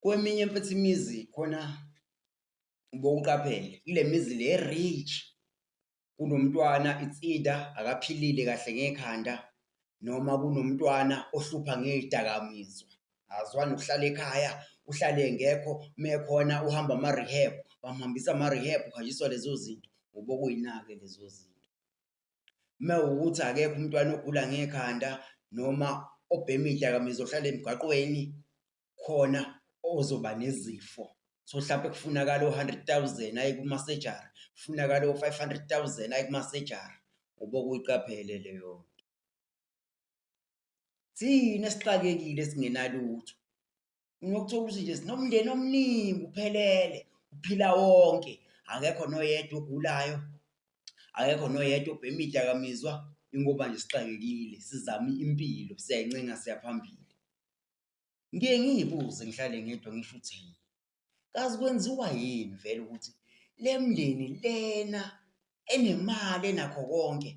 Kweminye mfethu imizi khona bowuqaphele kule mizi le rich kunomntwana it's either akaphilile kahle ngekhanda noma kunomntwana ohlupha ngey'dakamizwa azwani ukuhlala ekhaya uhlale engekho mekhona uhamba ama-rehab bamhambisa ama-rehab uhanjiswa lezo zinto ngoba okuyina-ke lezo zinto. uma ukuthi akekho umntwana ogula ngekhanda noma obhema iy'dakamizwa ohlala emgaqweni khona ozoba nezifo so mhlawumpe kufunakala o-hundred thousand aye kumasejari kufunakala o-five hundred thousand aye kumasejari uba kuyiqaphele leyo nto thina esixakekile singenalutho unokuthola ukuthi nje sinomndeni omningi uphelele uphila wonke akekho noyedwa ogulayo akekho noyedwa obhema idakamizwa ingoba nje sixakekile sizama impilo siyayncenga siyaphambili ngiye ngiyibuze ngihlale ngedwa ngisho ukuthi yini kazi kwenziwa yini vele ukuthi le mndeni lena enemali enakho konke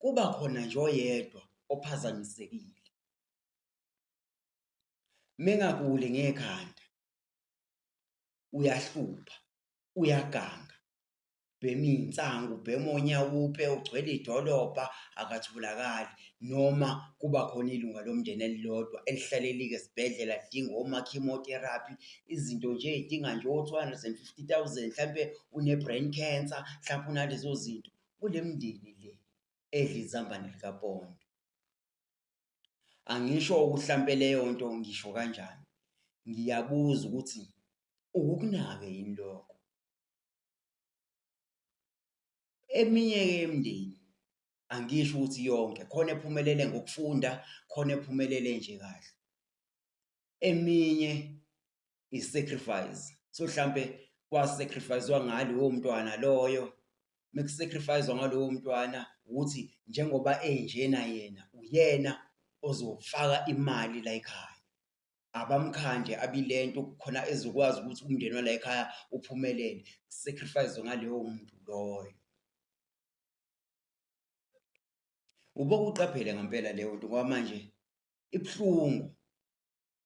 kuba khona nje oyedwa ophazamisekile mengakuli ngekhanda uyahlupha uyaganga ubhema iy'nsangu ubhema onyawupe ugcwele idolobha akathulakali noma kuba khona ilunga lomndeni elilodwa elihlalelike esibhedlela lidinga oma-chemotherapy izinto nje ey'dinga nje o-two hundred and fifty thousand mhlampe une-brain cancer mhlampe unalezo zinto kule mndeni le edla izambane likapondo Angisho ukuthi hlampe leyo nto ngisho kanjani. Ngiyabuza ukuthi ukukunake yini lokho? Eminye-ke yemindeni, angisho ukuthi yonke, khona ephumelele ngokufunda, khona ephumelele nje kahle. Eminye isacrifice so mhlambe kwasacrificewa ngalo womntwana loyo mekusacrificewa ngalowo mntwana ukuthi njengoba enjena yena uyena ozofaka imali la ekhaya abamkhande abilento khona ezokwazi ukuthi umndeni wala ekhaya uphumelele sacrifice ngaleyo muntu loyo ubokuqaphele ngempela leyo nto ngoba manje ibuhlungu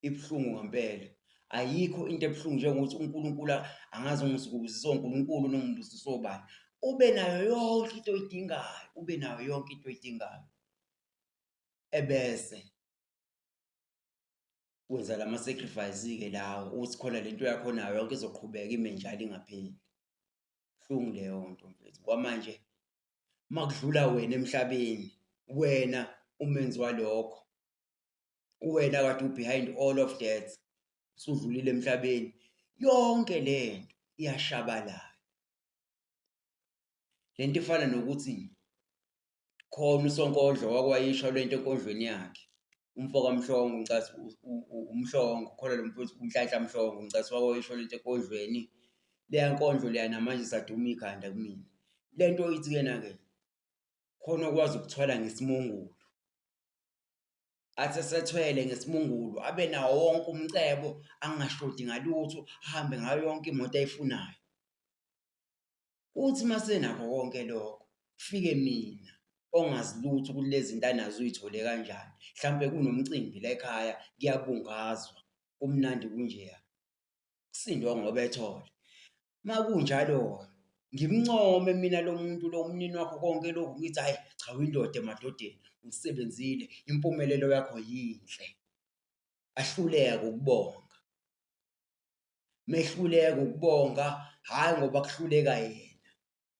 ibuhlungu ngempela ayikho into ebuhlungu njengokuthi uNkulunkulu angazi ungisibuzi so uNkulunkulu nongimbuzi sobani ube nayo yonke into oyidingayo ube nayo yonke into oyidingayo ebese wenza lama sacrifice ke lawo uthi khona lento yakho nayo yonke izoqhubeka ime njalo ingapheli hlungu leyo nto mfethu kwamanje makudlula wena emhlabeni wena umenzi walokho uwena kade ubehind all of that usudlulile emhlabeni yonke lento iyashabalala lento ifana nokuthi khona usonkodlo wakwayisho lento enkondlweni yakhe umfo kamhlongo ngicasi umhlongo khona lo mfowethu unhlanhla mhlongo ngicasi wakwayisho lento enkondlweni leya nkondlo leya namanje saduma ikhanda kumina le nto ithi kuyena-ke khona okwazi ukuthwala ngesimungulu athi esethwele ngesimungulu abe nawo wonke umcebo angashodi ngalutho ahambe ngayo yonke imoto ayifunayo uthi masenakho konke lokho fike mina ongazi lutho ukuthi lezi zinto anazo uyithole kanjani mhlawumbe kunomcimbi la ekhaya kuyabungazwa kumnandi kunjeya kusindwa ngoba ethole. Uma kunjalo-ke ngimncome mina lo muntu lo umnini wakho konke lokhu ngithi hhayi cha uyindoda emadodeni, usebenzile, impumelelo yakho yinhle. Ahluleke ukubonga. Mehluleka ukubonga, hhayi ngoba kuhluleka yena.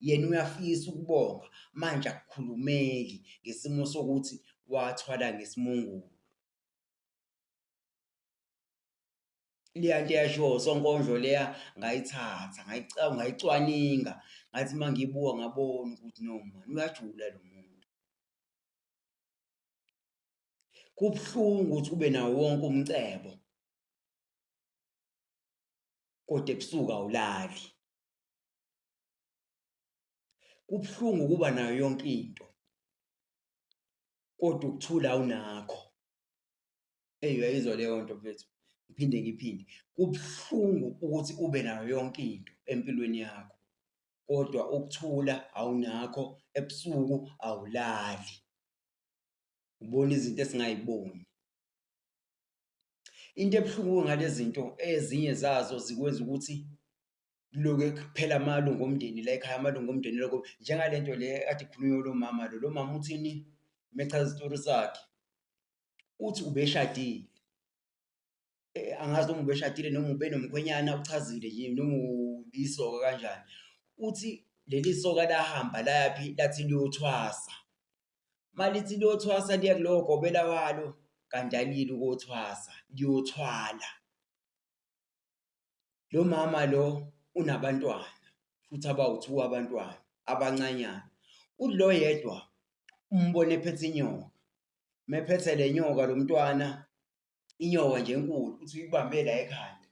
Yena uyafisa ukubonga, manje akukhulumeki ngesimo sokuthi wathwala ngesimungulu. leya nto eyashiwo usonkondlo leya ngayithatha ngayicwaninga ngathi uma ngiyibuka ngabona ukuthi no mani uyajula lo muntu kubuhlungu ukuthi ube nawo wonke umcebo kodwa ebusuku awulali kubuhlungu ukuba nayo yonke into kodwa ukuthula awunakho Eyi uyayizwa leyo nto mfethu, ngiphinde ngiphinde. Kubuhlungu ukuthi ube nayo yonke into empilweni yakho, kodwa ukuthula awunakho, ebusuku awulali. Ubona izinto esingayiboni. Into ebuhlungu ngale zinto ezinye zazo zikwenza ukuthi kuloke kuphela amalungu omndeni la ekhaya, amalungu omndeni lokho. Njengale nto le ekade ikhulunywa lo mama lo, lo mama uthini uma echaza isitori sakhe? uthi ubeshadile eh, angazi noma ubeshadile noma ubenomkhwenyana uchazile yini noma uyisoka kanjani uthi leli soka lahamba layaphi lathi liyothwasa malithi liyothwasa liya kulowo gobela walo kanti alili ukothwasa liyothwala Lo mama lo unabantwana futhi abawu-two abantwana abancanyana. Uthi lo yedwa umbone ephethe inyoka, mephethe le nyoka lo mntwana, inyoka nje enkulu, uthi uyibambe la ekhanda,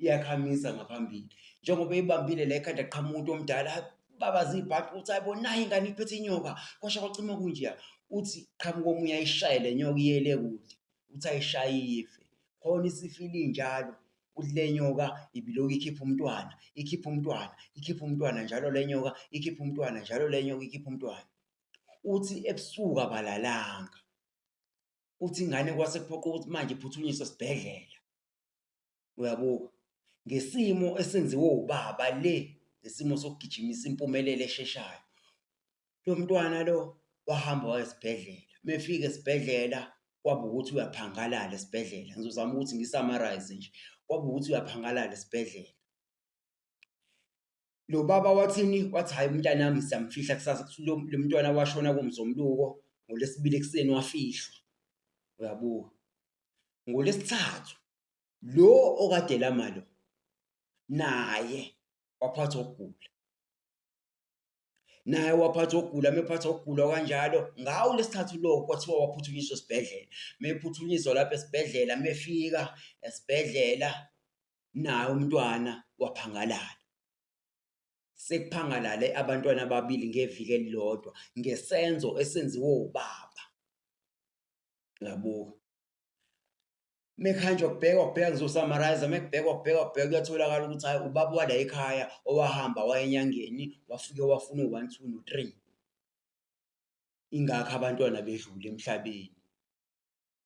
iyakhamisa ngaphambili. Njengoba eyibambile la ekhanda qhamuka umuntu omdala, babaza ibhadi ukuthi hhayi bo nayi ingane iphethe inyoka, kwasha kwacima kunjeya. Uthi qhamuka omunye ayishaye le nyoka iye le kude, uthi ayishayiye ife khona isifile injalo uthi le nyoka ibiloku ikhipha umntwana ikhipha umntwana ikhipha umntwana njalo le nyoka ikhipha umntwana njalo le nyoka ikhipha umntwana uthi ebusuku abalalanga uthi ingane kwase kuphoqa ukuthi manje iphuthunyiswe esibhedlela Uyabuka? Ngesimo esenziwe ubaba le, ngesimo sokugijimisa impumelelo esheshayo. Lo mntwana lo wahamba waya esibhedlela. Uma efika esibhedlela kwaba ukuthi uyaphangalala esibhedlela. Ngizozama ukuthi ngi-summarize nje. Kwaba ukuthi uyaphangalala esibhedlela. Lo baba wathini? Wathi hhayi umntanami siyamfihla kusasa kuthi lo lo mntwana washona kuMzomluko ngoLwesibili ekuseni wafihlwa. Uyabuka. NgoLwesithathu lo okade elama lo naye waphathwa ukugula. Naye waphathwa ukugula, mephathwa ukugula kanjalo. Ngawo lesithathu lo kwathiwa waphuthunyiswa esibhedlela. Mephuthunyiswa lapha esibhedlela, mefika esibhedlela naye umntwana waphangalala. Sekuphangalale abantwana ababili ngeviki elilodwa ngesenzo esenziwe ubaba. Uyabuka. Mekhanjwa kubhekwa kubheka ngizosummarize mekubhekwa kubhekwa kubheka kuyatholakala ukuthi hayi ubaba wala ekhaya owahamba wayenyangeni wafike wafuna u-one two no-three. Ingakho abantwana bedlule emhlabeni.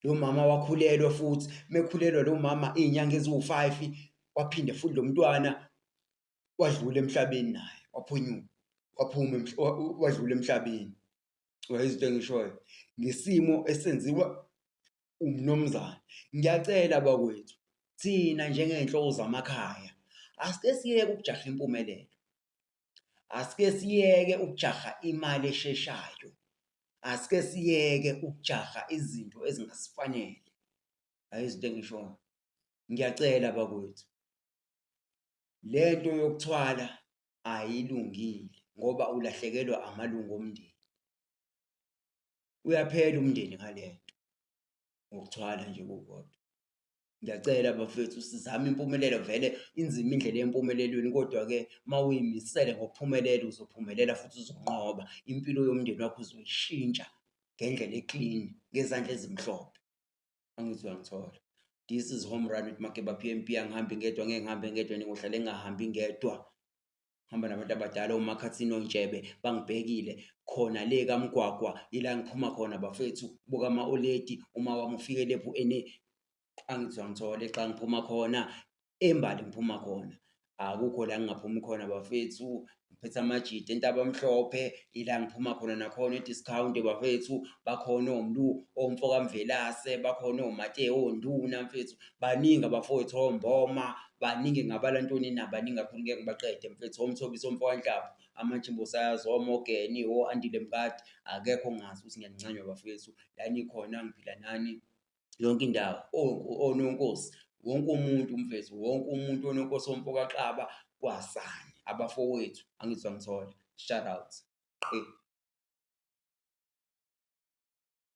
Lo mama wakhulelwa futhi mekhulelwa lo mama iy'nyanga eziwu-five waphinde futhi lo mntwana wadlula emhlabeni naye waphunyuka waphuma wadlula emhlabeni. Uyayizwa into engishoyo? Ngesimo esenziwa umnumzane. Ngiyacela bakwethu thina njengey'nhloko zamakhaya asike siyeke ukujaha impumelelo. Asike siyeke ukujaha imali esheshayo. Asike siyeke ukujaha izinto ezingasifanele. Hhayi izinto engishoyo. Ngiyacela bakwethu, le nto yokuthwala ayilungile ngoba ulahlekelwa amalungu omndeni. Uyaphela umndeni ngale nto, ngokuthwala nje kukodwa. Ngiyacela bafethu sizame impumelelo vele inzima indlela yempumelelweni kodwa-ke uma uyimisele ngokuphumelela uzophumelela futhi uzonqoba. Impilo yomndeni wakho uzoyishintsha ngendlela eklini ngezandla ezimhlophe. Angithi uyangithola. This is home run with Makeba PMP angihambi ngedwa ngeke ngihambe ngedwa ningohlale ngingahambi ngedwa. hamba nabantu abadala omakhathini ontshebe bangibhekile khona le kamgwagwa ila ngiphuma khona bafethu buka ama-oledi uma wami ufike lephu ene angizwa ngithole xa ngiphuma khona embali ngiphuma khona akukho la ngingaphumi khona bafethu ngiphethe amajidi entaba mhlophe ila ngiphuma khona nakhona i-discount bafethu bakhona omlu omfokamvelase bakhona omateo onduna mfethu baningi abafowethu omboma baningi ngabala ntoni na baningi kakhulu ngeke ngibaqede mfethu omthobisa omfokanhlaba amajimbo sayazi omogeni o-andile mkade akekho ongazi ukuthi ngiyancanywa bafowethu la nikhona ngiphila nani yonke indawo ononkosi wonke umuntu umfethu wonke umuntu ononkosi omfokaxaba kwasani abafowethu angizwa ngithola shout out qi